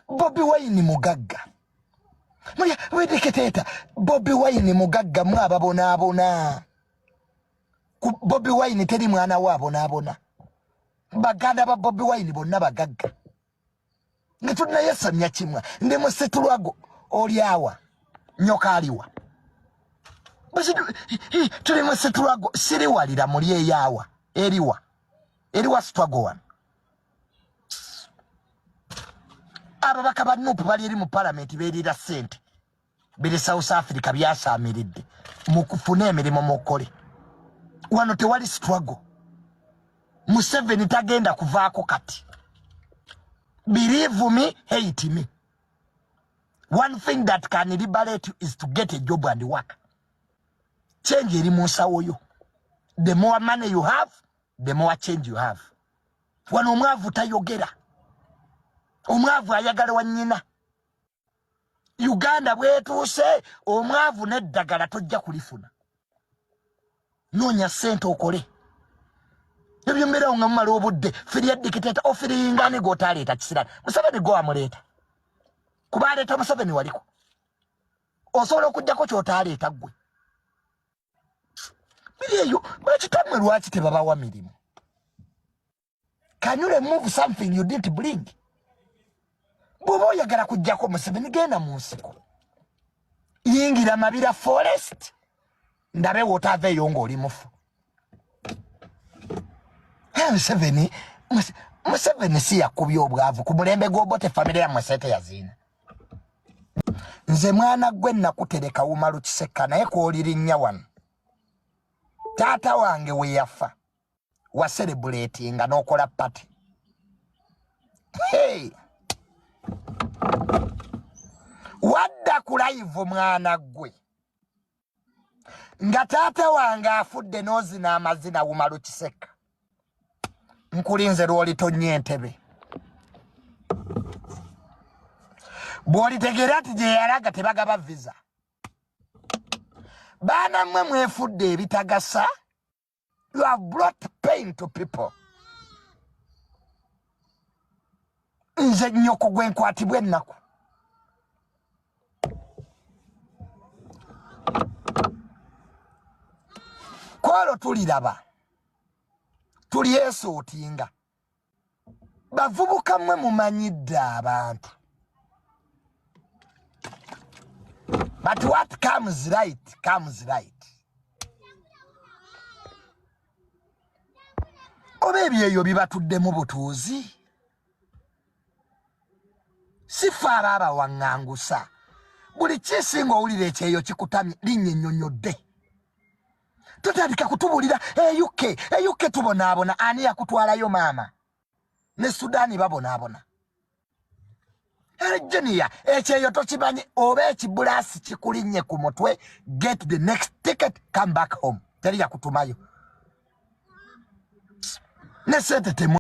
bobi wayini mugagga mulya wedeketeeta bobi wayini mugagga mwe ababonaabona bobi wayini teri mwana we abonaabona baganda ba bobi wayini bonna bagagga nga tunayesamya kimwa ndi musitulwago olyawa nyoka aliwa tuli musitulwago siriwalira muli eyawa eriwa eriwa sitwago wano ababaka ba nup bali eri mu palamenti berira sente biri south africa byasamiridde mukufune emirimu mukole wano tewali struggle museveni tagenda kuvaako kati believe me hate me one thing that can liberate you is to get a job and work change eri mu nsawo yo the more money you have the more change you have wano omwavu tayogera omwavu ayagala wa nyina uganda bwetuuse omwavu neddagala tojja kulifuna noonya sente okole ebyo mbeerawo nga mumala obudde firya dikiteta ofiringane gwotaleeta kisirani museveni gwe wamuleeta kuba aleeta museveni waliko osobola okugjako kyotaleeta gwe eyo bakitamwe lwaki tebabawa mirimu can you remove something you didn't bring bwoba oyagala kujjako museveni genda mu nsiko yingira mabira forest ndabe wotava eyo ngaoli mufu museveni museveni si yakubya obwavu ku mulembe gwobote famiry yamwesete yaziina nze mwana gwe nakutereka wumalu kisekka naye kwolirinnya wano taata wange weyafa waserebuleti nga nokola pati hey. wadda ku layivu mwana gwe nga taata wange afudde n'ozina amazina wumalu kiseka nkulinze lw'olitonnya entebe bw'olitegeera nti gye yalaga tebagaba visa baana mmwe mwefudde ebitagasa you have brought pain to people nze nyoko gwenkwatibwa ennaku kwalo tuliraba tulyesuutinga bavubuka mwe mumanyidde abantu but what comes right comes right oba ebyeyo bibatuddemu butuuzi sifa aba abawaŋŋangusa buli kisinga owulira ekyeyo kikutamye linnya ennyonyodde totandika kutubulira euk eh, euk eh, tubonaabona ani yakutwalayo maama ne sudaani babonaabona erejeniya ekyeyo tokimanyi oba ekibulaasi kikulinnye ku mutwe get the next ticket come back home teri yakutumayo ne sente temu